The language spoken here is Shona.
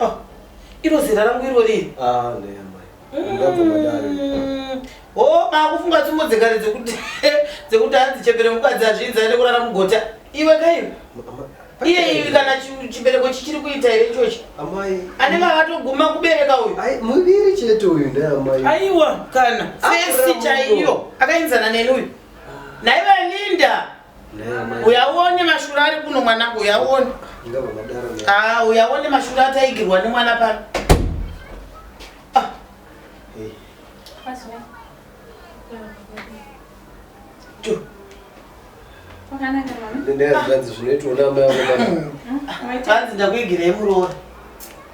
Ah, iro zera rangu iro riri. Ah, ne amai. Mm. Ndabvuma dare. Oh, ba kufunga tsumbo dzekare dzekuti dzekuti hanzi chembere mukadzi azvinzi aende kurara mugota. Iwe kaiwe. Iye iwe kana chibereko chichiri kuita here ichochi? Amai. Ane vakatoguma kubereka uyu. Ai, muviri chete uyu ndiye amai. Aiwa, kana. Fesi chaiyo. Akainzana neni uyu. Naiva Linda. uyauone mashura ari kuno mwanangu uyauone ah, uyauone mashura ataigirwa nemwana pano ah. hanzi ndakuigirei muroora